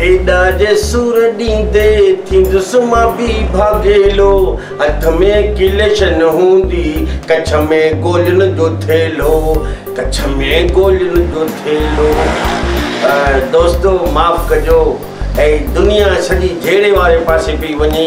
ايڏا جي سور ڏيندي ٿيندس مان بي ڀاڳيلو هٿ ۾ ڪليشن هوندي ڪڇ ۾ گولين جو ٿيلهو ڪڇ ۾ گولين جو ٿيلهو دوستو معاف ڪجو هي دنيا سڄي جهيڙي واري پاسي پئي وڃي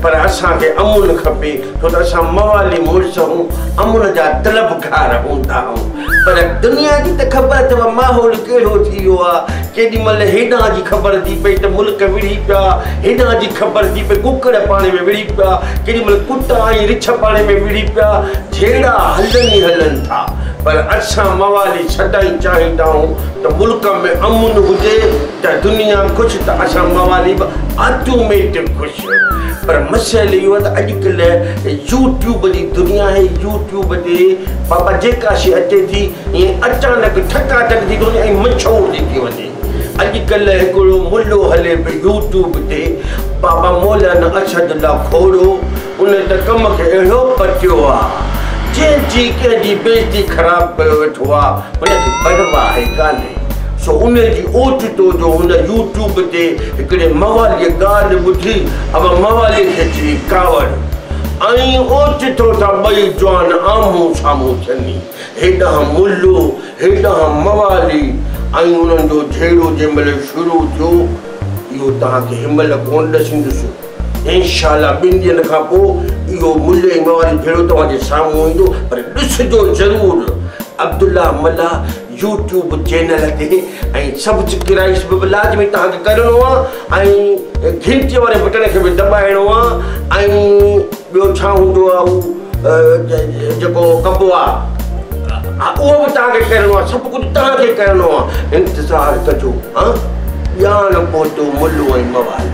پر اسان کي امن کپي ڇو ته اسان موالي مڙس آهيون امن جا طلبگار هوندا آهيون پر دنيا جي ته خبر اٿو ماحول ڪهڙو ٿي ويو آهي ڪيڏي مھل ھيڏانھن جي خبر ٿي پئي ته ملڪ وڙھي پيا، ھيڏانھن جي خبر ٿي پئي ڪڪڙ پاڻي ۾ وڙھي پيا، ڪيڏي مھل ڪتا ۽ رڇ پاڻي ۾ وڙھي پيا، جھيڙا ھلن ئي ھلن ٿا، پر اسان موالي سدائين چاھين ٿاھون ته ملڪ ۾ امن ھجي ته دنيا خوش ته اسان موالي به آٽوميٽڪ خوش. پر مسئلو اهو آهي ته اڄڪلهه يو ٽيوب جي دنيا آهي، يو ٽيوب تي بابا جيڪا شيء اچي ٿي ائين اچانڪ ٺڪا ٺڪ ٿي پوي ۽ مشهور ٿي ٿي وڃي. اڄڪلهه هڪڙو ملو هلي پيو يو ٽيوب تي بابا مولانا اسد الله کوڙو ان ته ڪم کي اهڙو پٽيو آ جنهن جي ڪنهن جي بيعزتي خراب ڪيو ويٺو آ هن کي پرواهه ئي ڪانهي. سو ان جي اوچتو جو هن يو ٽيوب تي هڪڙي مواليء ڳالهه ٻڌي اما مواليء کي ٿي ڪاوڙ ۽ اوچتو ته ٻئي جوان آمهون سامهون ٿين ئي. هيڏانهن ملو، هيڏانهن موالي ۽ انهن جو جهيڙو جنهن مهل شروع ٿيو، اهو توهان کي هن مهل ڪونه ڏسيندس، انشاء الله ٻن ڏينهن کان پوء اهو ملي ۽ موالي جهيڙو توهان جي سامهون ايندو، پر ڏسجو ضرور عبدالله ملاح. يوٽيوب چينل تي ۽ سبسڪرائيس به لازمي توهان کي ڪرڻو آ ۽ گهنٽي واري بٽڻ کي به دٻائڻو آ ۽ ٻيو ڇا هوندو آ هو جيڪو ڪبو آ اهو به توهان کي ڪرڻو آ سڀ ڪجهه توهان کي ڪرڻو آ انتظار ڪجو ها ڄاڻ پوتو ملو ۽ موال